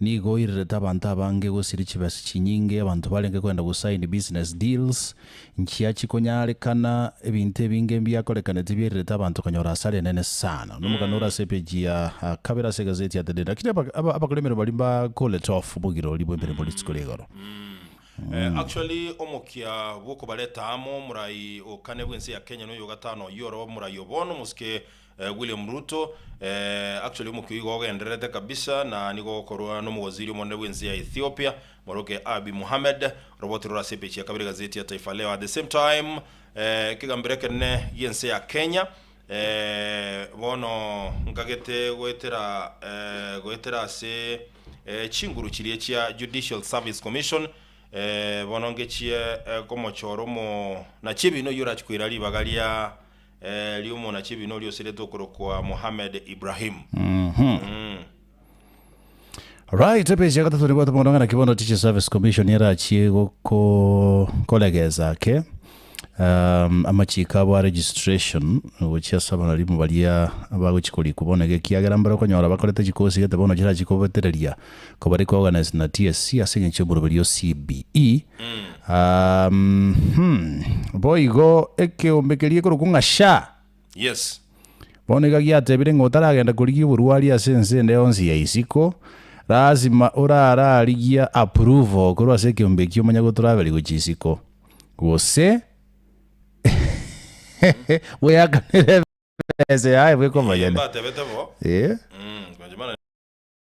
Nigo oirerete abanto abange gosiria chibesa chinyinge, abanto barenge koenda gosign business deals, nchia chikonyarekana, ebinto ebinge mbiakorekaneti biererete abanto konyora hasara enene sana. Nomogani ore ase epeji ya kabere ase egaseti ya The Daily. Lakini aba abakora emeremo baria mba call it off bogirori bw'emeremo rituko rigoro. Actually omokia bw'okobareta amo, morai o kane bw'ense ya Kenya noyo ogatano oyio oroba morai o bono, omosike William Ruto, eh, actually omokio igo ogendererete kabisa na nigo okorwa n'omogwaziri omonene bw'ense ya Ethiopia, moroke Abiy Mohamed, oroboti rore ase epeji ya kabere egazeti ya Taifa Leo. At the same time, eh, ekegambero ekenene gi'ense ya Kenya, eh, bono nkagete goetera, eh, goetera ase, eh, chinguru chiria chia Judicial Service Commission, eh, bono ngechie, eh, komochora omo nachiebini oyio orachi koira ribaga ria, Erio omonachibi noria osiretwe okorokwa Mohammed Ibrahim. Right, epeji ya gatato nibwate mono ng'ana ki bono Teaching Service Commission erachie goko- koregesa ake um, amachiko abo a registration gochia ase abarimo baria abagochi korikwa bono iga ekiagera mbare okonyora bakorete chikosi gete bono chirachie kobetereria kobare koorganize na TSC ase eng'encho y'oboroberio o CBE. Ahm, boigo ekeombe keria gekorokwa ng'a sha. Yes. Bono iga giatebire ng'a otaragenda korigia oborwari ase ense ende yonsi ya isiko, lasima orararigia approval korwa ase ekeombe ekio omanye gotravel gochia isiko. Gose bweakanere ebesa yaye bweka omonyene. Mbatebete bo. Eh? Mm, kwanche mana.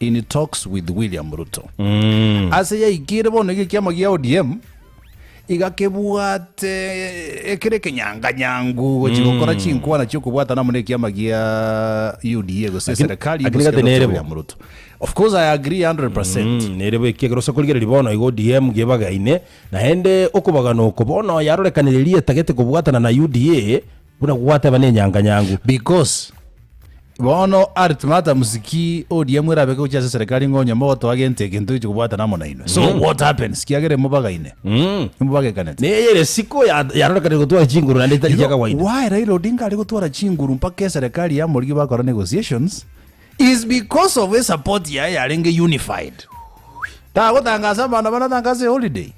In talks with William Ruto. Ase yaikire bono iga ekiama gia ODM iga kebwate ekere ekenyanga nyangu gochi gokora chinkwana chia okobwatana amo na ekiama gia UDA gose Lakini- eserekari lakini y'omosike gati Dr. nerebo. William Ruto. Of course I agree 100%. Mm, nerebo eki ekero osa korigereria bono iga ODM gebagaine naende okobagana oko bono yarorekanire rieta gete kobwatana na UDA Buna gwateba nenyanga nyangu. Because bono arete ng'ata mosiki oria mwerabe gochia ase eserekari ng'a onye mogotoa gento eke ntoichi kobwatana amo nainwe. So what happens kiagera imobagaine? Imobagekanete. Neye ere siko ya yarorekanire gotwara chinguru naende etari chia kawaida. Why Raila Odinga are gotwara chinguru mpaka eserekari ya morigi bakora negotiations? Is because of e support yaye yarenge unified. Tagotangasa abana banatangasa e holiday.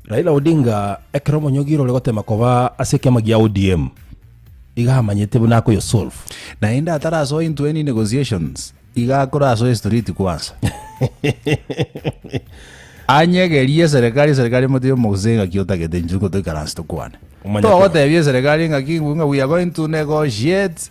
Raila Odinga ekero omonyogire ore gotema koba ase ekiama gia ODM iga amanyete buna akoyo solve. Naende atarasoa into any negotiations iga akorasoe street kwansa. Anyegerie eserekari eserekari emotebie omogusii ngaki otagete inchuo ingo toikaranse tokwane. Omanyete. Togotebia eserekari ngaki ng'aki we are going to negotiate.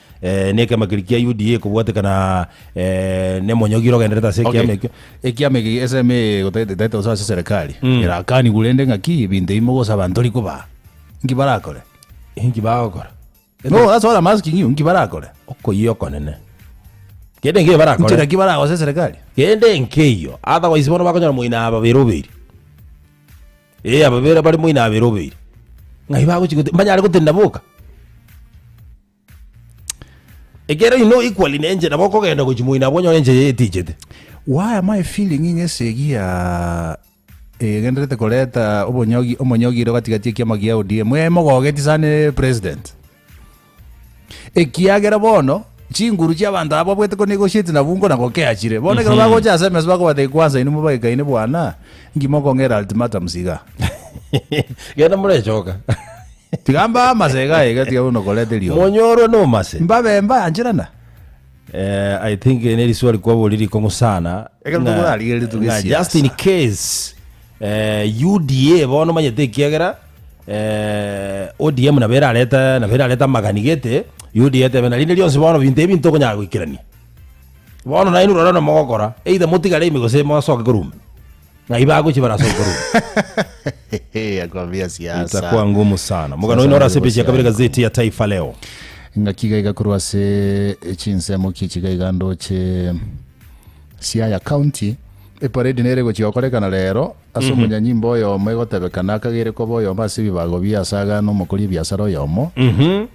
Eh, nekeama keria kia UDA kobwatekana eh, nemonyogiro ogenderete ase Okay. ekiama ekio ekiama eki eseme egotagete etaete gose ase serikali Mm. erakanigwe rende ng'aki ebinto ebi mogosaba ntori koba nki barakore inki bagokora no that's what I'm asking you nki barakore okoyia okonene kende ngeyo nchera barakore ki baragosa serikali kende nkeyo otherwise bono bakonyora moino ababere oberi Ee, ababera bare moino abere obeire. Ng'ai bagochia gote- mbanyare gotenena boka? Ekero ino equally ne enchera bokogenda gochia moino abwo onyore enchera etichete. Why am I feeling ng'a esegi ya egenderete koreta obonyogi omonyogire gati gati ekiama gia ODM? Mwemogogeti sana president. Ekiagera bono chinguru chi'abanto aba babwete ko nigo shit na bungo na gokea chire. Bono ekero bagocha ase emeso bakobata ekwansa inwe mobagekaine bwana, ngima okong'era ultimatums iga. Genda morechoka. Tiga mbaamase iga iga tiga buna okoreta eriogi. Monyorwe nomase. Mbabe mbaancherana. Eh, I think eh, neriswa rikwabori rikong'u sana. Ekero Ng'a- tokorarigereria tuge ng'a siasa. Just in case eh, UDA bono manyete ekiagera eh, ODM nabo erareta nabo erareta amagani gete UDA etebe narinde rionsi bono binto ebi ntokonyara goikerania. Bono nainwe rora nomogokora either motigare ime gose mosoke korwa ime. Ng'ai bagochi barase okorua? Akwambia siasa. Itakuwa ngumu sana. Mugano ino orase page ya kabere gazeti ya Taifa Leo. Ng'aki iga iga korwa ase chinsemo ki chiga iga ndoche Siaya County. Eparedi nere gochia gokorekana rero ase mhm. omonyanyimba oyomo egotebekana akagere koba oyomo ase ebibago bia ase agana omokori ebiasara oyomo. Mhm.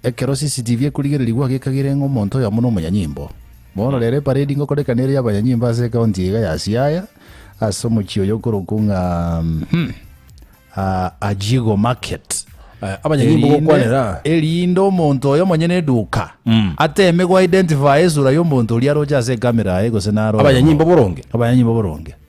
Ekero CCTV ekorigereri gwagekagere ng'a omonto oyomo na omonyanyimbo. Bono rero eparedi ngokoreka nere y'abanyanyimbo ase ekaunti iga ya Siaya, ase omochie oyo okorokwa ng'a Ajigo Market. Eh, abanyanyimbo gokwanera. Erinde omonto oyo monyene eduka ateme go identify esura y'omonto oria aroche ase ekamera aye gose naro. Abanyanyimbo boronge. Abanyanyimbo boronge.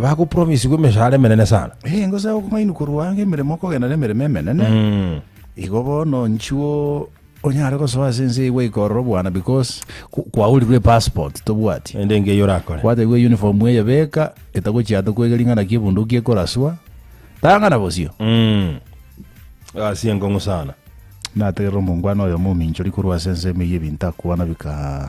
Bagopromisigwa emeshahara emenene sana. Eh, ngosaba okomanywa korwa anga emeremo okogenda nemeremo emenene. Mm. Igo bono nchuo onyare gosoa ase ense igwe ikorora obwana because ku- kwaorirwe epassport tobwati. Ende engeyo orakore. Kwategwe uniform eye beka etagochia ande kwegeri ng'ana ki ebunduki ekoraswa. Tang'ana bosio. Mm. Gasi enkongu sana. Nategerera omongwana oyomo ominchori korwa ase ense ime ya ebinto akwana bika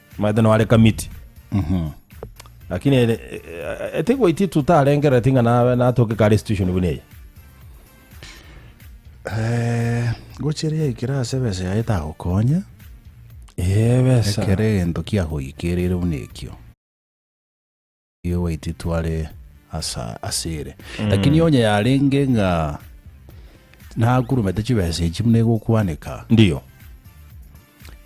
Maete noare kamiti. Lakini ere etigwaitie tutarengereti ng'a nabe natoke kare institution buna eye. Eh, gochira yaikire ase besa yaye tagokonya Ee besa. ekero egento kiagoikerire buna ekio Nigo gwaitire tware asa ase ere. Lakini onye yarenge ng'a nakurumete chibesa echi buna egokwaneka, Ndiyo.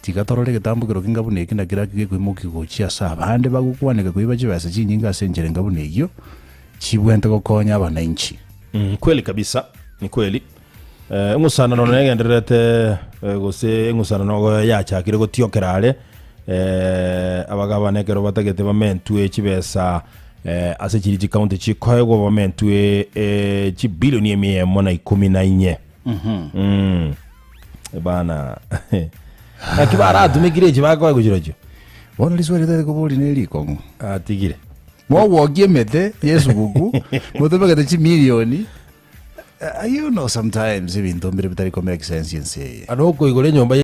tiga torore egetambukero keinga buna eki naki naki gekoimokia gochia ase abande bagokwaneka koiba chibesa chinyinge ase enchera enga buna eyio chibwente gokonya abananchi. Mm, kweli kabisa, ni kweli. Eng'usanano negendererete, eh, gose eng'usanano go- yachakire gotiokera are, eh, abagabana ekero batagete bamentwe chibesa eh, ase chiri chikaunti chikoegwa bamentwe eh, chibilioni emia emo na ikomi na inye Mm. bana naki baratumekire echi bakoe gochirochio bono riswali tari kobori ne rikong'u atigire mogwoki emete yesuguku motobegete chimilioni Uh, you know sometimes ebinto mbire bitari ko make sense ense eye Ano okoigora enyomba ye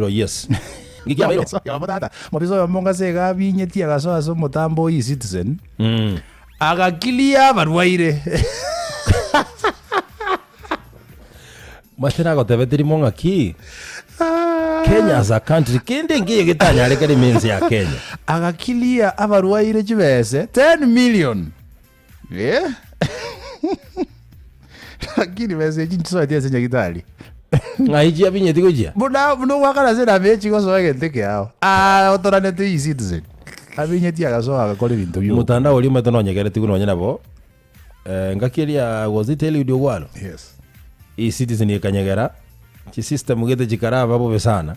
Oro yes. Nki kiabeire? Omoisa oyomo tata, mobisa oyomo ng'ase iga abinyetie agasoa ase omotambo o E-citizen, aga clear abarwaire. Mase nagotebe terimo ng'aki? Kenya as a country, kende engiya getanyarekana ime ense ya Kenya. Aga clear abarwaire chibese 10 million. Eh? Lakini besa echi nchisoeti ase nyagitari. Ng'ai chiabinyeti gochia? Buna buna ogwakana ase enamba echi gosoa egento eke ao. Ah, otoranete iyi citizen. Abinyeti agasoa agakora ebinto bia Omotandao oria omanyete nonyegeretigwe nonye nabo eh, ngaki eria was it Eliud Ogwaro? Yes. E-citizen ekanyegera chisystem gete chikaraba bobe sana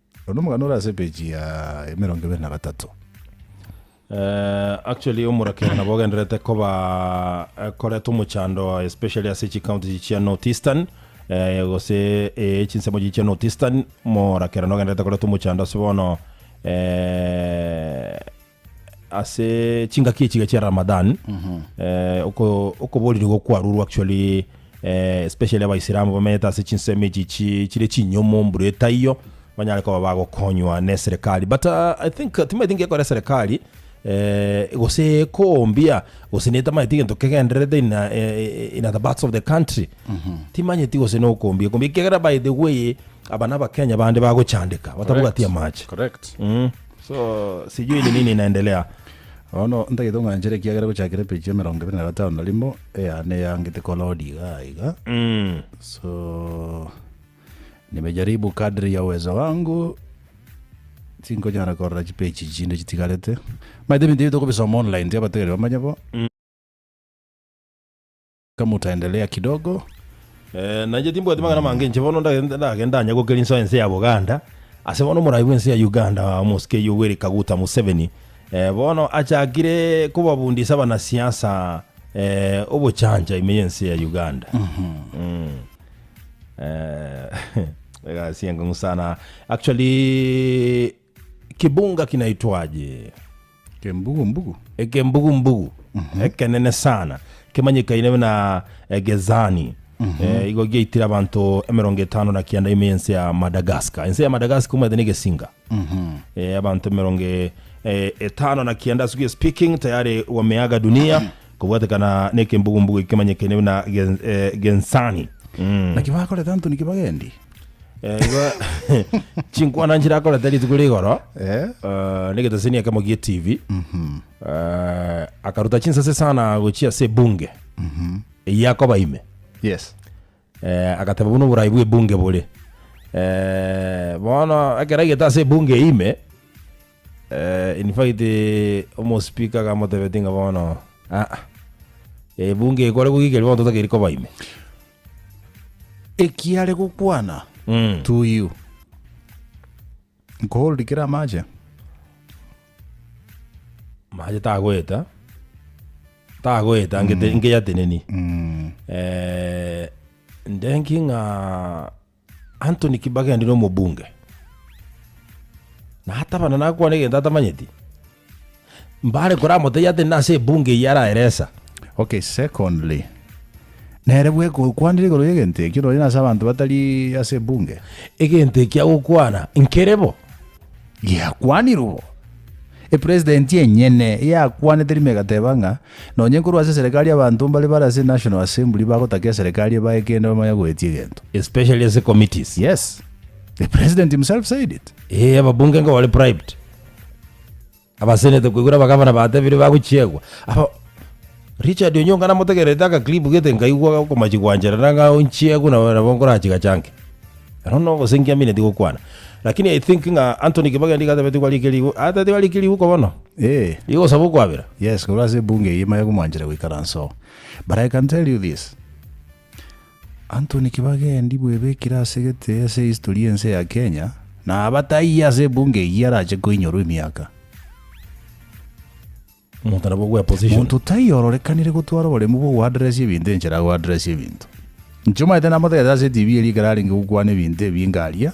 Onde omogani ore ase page ya emerongo ebere na gatato. Eh, actually omorakera nabo ogenderete koba eh, koreta omochando especially ase chicounty echi chia north eastern eh, gose eh, chinsemo echi chia north eastern morakera nogenderete koreta omochando ase bono eh, Ase chingaki echiga chia Ramadan eh, oko- okoboririgwa kwarurwa actually eh, especially abaisilamu bamenyete ase chinsemo echi chi- chire chinyomo mbura etaiyo banyare koba bagokonywa ne serikali but ah, i think timaeti ngekore serikali eh, gose ekombia gose netamaeti gento kegendererete in, a- eh, in other parts of the country timanyeti gose nokombia ekombia ekiagera by the way aba nabakenya bande bagochandeka batabugatia amache Correct. So sijui ni nini inaendelea. Bono ntagete ong'anchere ekiagera gochakera epeji ya emerongo ebere na gatano na rimo eyane eyangete kolodi iga iga Mm. so nimejaribu kadri ya uwezo wangu tinkonyara korora chipeji chinde chitigarete maete ebinto ebi tokobisoma online tiabategeri bamanye bo Kamutaendelea kidogo. Eh, nainche timbwati mang'ana mange inche bono ndagende ndagenda anya gokeri insoa ense ya Buganda ase bono omorai bw'ense ya Uganda omosike Yoweri Kaguta Museveni eh, bono achakire kobabundisa abanasiasa eh, obochancha ime y'ense ya Uganda Mm. Eh, egasi eng'u sana actually Kibunga kinaitwaje? Ekembugu-mbugu. Ekembugu-mbugu ekenene sana kemanyekaine buna Egezani. Eh, igo giaitire abanto emerongo etano na kianda ime y'ense ya Madagascar. Ense ya Madagascar omanyete na egesinga. Eh, abanto emerongo e- eh, etano na kianda as we are speaking tayari wameaga dunia kobwatekana na ekembugu-mbugu eke kemanyekaine buna Gen- eh, Gensani. Naki bakoreta Antoni Kibagendi. Eh, igo- chinkwana nchirakorete rituko rigoro Eh? eh, negeteseni ekemo gie tv Eh, akaruta chinsase sana gochia ase ebunge eyakoba ime Yes. eh, agateba buno oborai bwa ebunge bore eh, bono ekero aigete ase ebunge ime eh, in fact eh, omospika agamotebeti ng'a bono "Ah, ah, ebunge ekore gogikeri bono totakeri koba ime Ekiare gokwana to you. Nkohold kere amache. Mache tagoeta. Tagoeta ngete ngeyateneni. Eh, ndenki ng'a Anthony Kibageni na omobunge na atabana nakwane egento atamanyeti mbare koramotebia ate nase ebunge eye araeresa Okay, secondly, nere bwe gokwanire igoro y'egento ekio nonye nase abanto batari ase ebunge. egento ekia gokwana nkerebo Giakwanirwe bo. Epresident enyene yakwanete rimo egateba ng'a nonye nkorwa ase eserekari abanto mbare bare ase National Assembly bagotaka eserekari ebae kende bamanye goetia egento. Especially ase committees. Yes. The president himself said it. Eeh ababunge nigo bare bribed. Abasenete koigwera abagavana batebire bagochiegwa. Aba Richard Onyonga namotegererete aka clip gete nkaigwa okomachi gwanchera na ng'a onchiegwe nabo nabo nkorachi gachanke. Ero no ogosengia mineti gokwana. Lakini I think ng'a Anthony Kibageni iga atabeti kwarike rigu atabeti kwarike rigu ko bono. Eh. Rigosaba okwabera. Yes, korwa ase ebunge eye maya komwanchera goikaransa oo. But I can tell you this. Anthony Kibagendi bwebekire ase egete ase history y'ense ya Kenya na abataiyi ase ebunge eyio arache koinyorwa emiaka. Omonto nabo gwe position. Monto taiyo ororekanire gotwara oboremu bwo go address ebinto enchera ago address ebinto. Inche omanyete namotegete ase etibi erio ekero arenge gokwana ebinto ebinge aria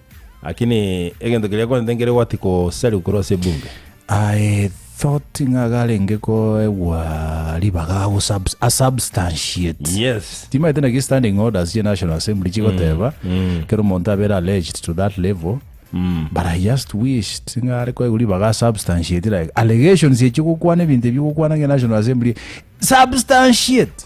Lakini egento keria akorente nkere gwati kosariwa korwa ase ebunge. I thought ng'a garenge koegwa ribaga ago subs- a substantiate Yes. timaete naki standing orders ye national assembly chigoteba kero omonto abere alleged to that level but i just wished ng'a are koegwa ribaga a substantiate like allegations echi ogokwana ebinto ebi ogokwana ng'a national assembly substantiate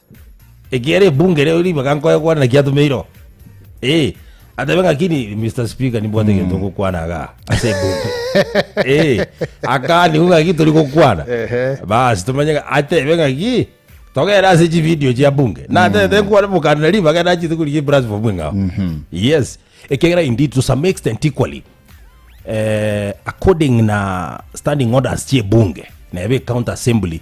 Ekiagera ebunge ere ribaga nkoyokwanera kiatumeire oo. Eh, atebe ng'aki ni Mr. Speaker nimbwate egento ngokwana iga ase ebunge. Eh, akaanigwa ng'aki tori gokwana. Ehe. Basi tomanye ng'a- atebe ng'aki togere ase chivideo chia bunge. Natete nkwane mokana na ribaga nachete korigia eplatform eng'ao. Yes, ekiagera indeed to some extent equally eh, according na standing orders chi'ebunge neba ecounty assembly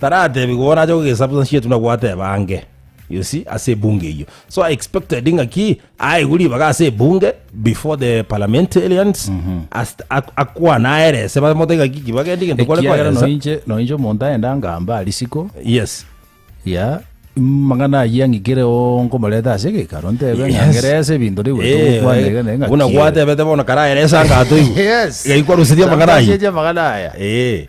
Taratebiwa bono ache kogesubstantiate buna gwateba ange, you see, ase ebunge eyio. So I expected ng'aki aegwe ribaga ase ebunge before the parliamentarians ast- ak- akwane aerese bamote ng'aki ki bagende gento kware ekiagera koeresa. noinche noinche omonto aende angamba arisiko Yes. ya mang'ana ayio ang'ikire onkomoreta ase egekaro ntebe Yes. ng'angerese ebinto riu Eh, gotokwanegene eh, ng'aki buna ere. gwatebete bono karaeresa ngatoigwe. Yes. Gaikwa rusiria amang'ana ayio. Twasetie amang'ana aya. Eh.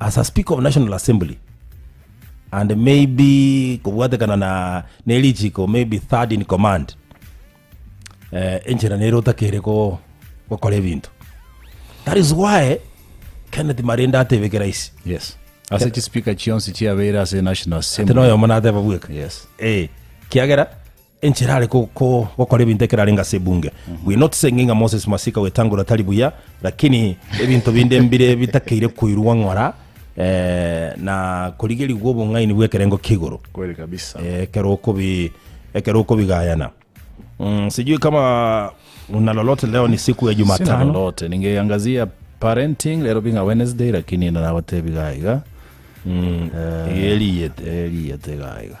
As a speaker of national assembly and maybe kobwatekana na nerichiko maybe third in command eh, enchera nere otakere ko gokora ebinto that is why kenneth marende atebeke raisi yes ase chispeaker chionsi chiabeire ase national assembly tenoyomo nateba bweka yes eh, kiagera Enchera are gokora ebinto ekero arenge ase ebunge. We noticing ng'a Moses Masika gwetangora tari buya, lakini ebinto binde mbire bitakeire koirwa ng'ora na korigerigwa obong'aini bw'ekerengo kia igoro. Kweli kabisa. Ekero okobi ekero okobigayana. Sijui kama una lolote leo ni siku ya Jumatano. Sina lolote. Ningeangazia parenting lero binga Wednesday lakini narabatebi gaiga. Mm. Eriyete. Eriyete gaiga.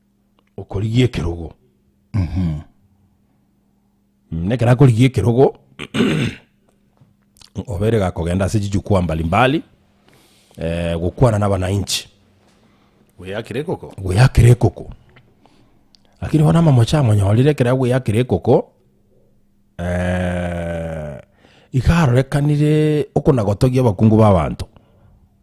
okorigia ekerogo. Na ekero akorigia ekerogo, oba ere gakogenda ase chijukwaa mbali mbali gokwana na abanainchi. Gweyakera ekoko? Gweyakera ekoko. Lakini bono amamocho amonyorire ekero agweyakera ekoko, iga arorekanire okona gotogia abakungu ba abanto.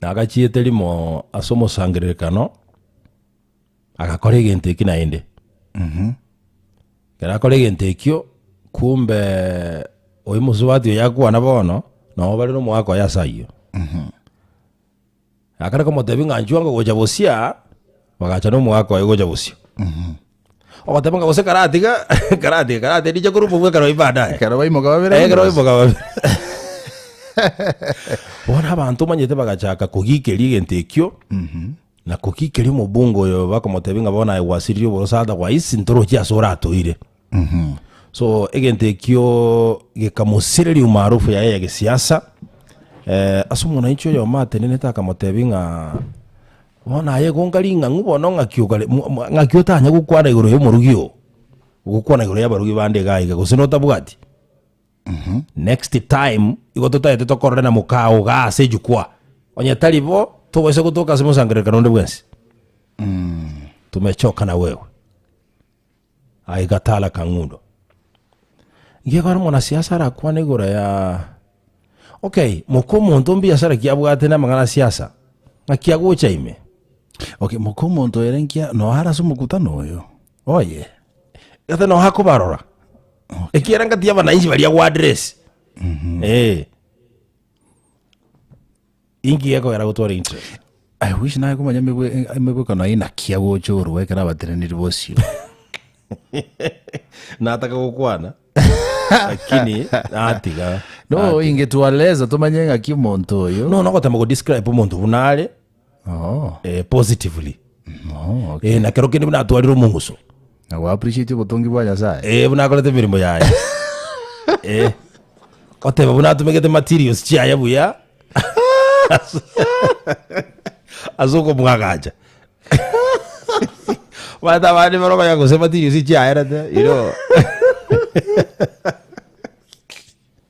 nagachiete rimo ase omosangererekano, agakora egento eki naende. Ekero akora egento ekio, kumbe oyo mosubati oyo akwana bono, nabo bare nomoaka oye ase ayio. Akare komotebia ng'a nchwango gocha bosia, bagacha nomoaka oye gocha bosio. Ogoteema ng'a gose karatiga, karatiga, karatiga, ndiche korumwa bwe ekero baadaye. Ekero baimoka babere Eh, ekero bonsi. baimoka babere. Bono abanto omanyete bagachaka kogikeria egento ekio, na kogikeria omobunga oyo bakomotebia ng'a bono aye gwasiririe oborose otherwise ntorochie ase oratoire. So egento ekio gekamosireria umaarufu yaye ya gesiasa. Eh, ase omwananchi oyomo atenenete akamotebia ng'a Bono aye egonka ring'ang'u bono ng'aki okare, mo- mo- ng'aki otanya gokwana igoro y'omorogi oo, ogokwana igoro y'abarogi bande iga aiga, gose notabwati? Next time, igo totaete tokorore na mokao iga ase ejukwa, onye tari bo, togoisa gotoka ase omosangererekano onde bwensi, tomechoka na wewe. Aye gataara kang'undo. Gekore omonasiasa arakwane igoro ya Okay, moka omonto mbiasara ki abwate namang'ana a siasa? Ng'aki agocha ime? Okay, moka omonto ere nkia noa arase omokutano oyo? Oye. Gata noa akobarora? Ekiera ngati abananchi baria goaddress. Eh. Inki gekogera gotwara interest? I wish naye komanya emegwe- emegwekano inakia gocha orwa ekero abateneniri bosio. Nataka gokwana. Lakini natiga. No, inge twaleza tomanye ng'aki omonto oyo. No, nogotema go describe omonto buna are Oh, eh, positively. oh, okay. Eh, na kero kende buna atwarire omonguso. Na go appreciate obotongi bwa Nyasaye. Eh, buna akorete emeremo yaye. Eh. Oteba buna atumegete materials chiaye buya. Ase okomwagacha. Bata abandi baro baya gose materials chiaye rete, you know.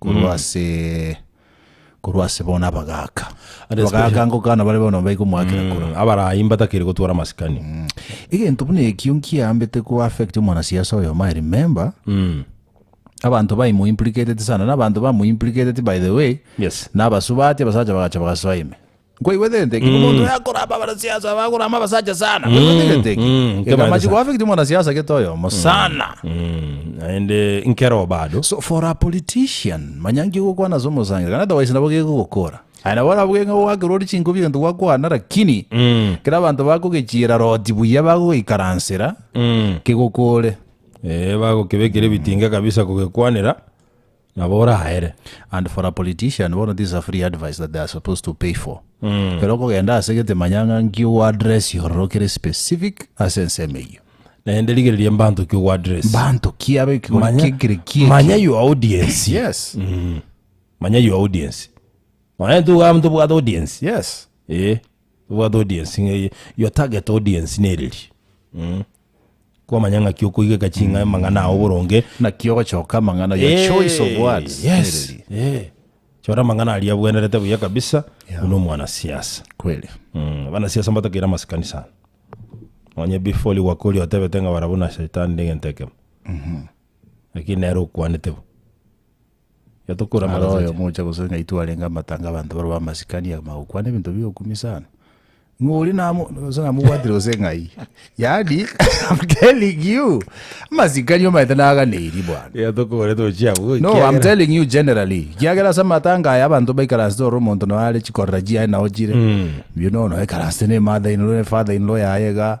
korwa Mm. ase korwa ase bono abagaaka And abagaaka especially- ngokana bare bono baigo mwakera koro Mm, abarayi mbatakiri gotwara masikani Mm. egento buna ekio nkiambete ko affect omwanasiasa oyo my remember Mm, abanto baimo implicated sana na abanto bamo implicated by the way yes nabasubati abasacha bagacha bagasoa ime Nkwaigwetente ki? Omonto oyo akorama abanasiasa aba akorama abasacha sana. Nkwaigwetente ki? mm, Geka nkabande amachiko sana. afekti omwanasiasa gete oyomo sana. Mm, naende nkero bado So for a politician, manya nki ogokwana ase omosangeri, kana otherwise nabo gegogokora. Aye nabo nabo geng'e ogwakera ore chinkobi egento gwakwana, lakini kera abanto bakogechiera roti buya bagogeikaransera kegokore. Eh, bagokebekera ebitinga kabisa kogekwanera Nabo oraere. And for a politician bono this is a free advice that they are supposed to pay for. Ekero okogenda ase gete manya ng'a nki ogo address ororo kere specific ase ensemo eyio. Naende rigereria mbanto ki ogo address. Mbanto ki abe ekegori Manya, ki ekere ki eki. manya your audience. Yes. Manya your audience. Nonya tugaba ntobwate audience. Yes. Eh, tobwate audience ng'a eye. Your target audience nereri. Kwamanya ng'aki okoigeka ching'a amang'ana ao boronge. Naki ogochoka amang'ana, your choice of words. Eh, yes, Tereri. eh. Chora amang'ana aria abwenerete buya kabisa Yeah. buna omwanasiasa. Kweli. Mm, abanasiasa mbatakeire amasikani sana. Onye before liwakoria otebete ng'a barabwo na shaitani nde egento ekemo. Lakini nere okwanete bo. Iga tokorama Roho oyomocha gose ng'ai twarenga amatanga abanto barabwo amasikani agima gokwana ebinto bigokumi sana. Ng'a oria namo- gose namobwatire gose ng'ai. Yaani, I'm telling you, amasikani omanyete naganeirie bwana. Iga tokogorete gochia abwo No, I'm ekiagera- telling you generally. Kiagera ase amatanga aya abanto baikaransete ore omonto noe are chikorera chiaye nao chire. Mbuya nono aikaransete ne mother in law ne father in law yaye iga.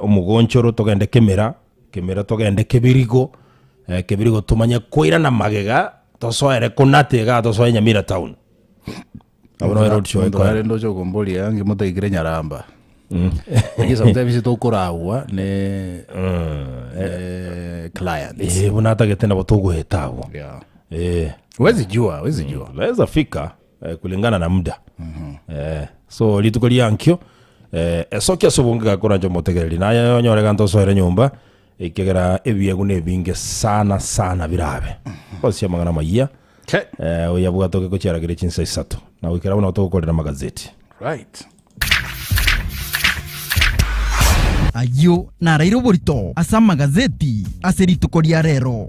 Omogonchoro togende kemera, kemera togende kebirigo, kebirigo tomanye koirana magega tosoere ko nate igaa tosoe Nyamira town. Abwo nabo road show Omonto ekoera. arende oche okomboria iga ngimotaikire nyaramba Inche sometimes tokoragwa ne ne clients Eh, buna atagete nabo togoeta abwo. Yeah. Eh, Huwezi jua, huwezi jua. naweza fika eh, kulingana na muda eh, so rituko riankio eh, esoki ase obonge gakorancha omotegereri naye onyore gante osoere nyomba ekegera ebiegu nebinge sana sana birabe osia amang'ana mayia Okay. eh, oyabwate oge gochiaragere chinsa isato na goikera bono togokorera magazeti Right. ayio naraire oborito ase amagazeti ase rituko ria rero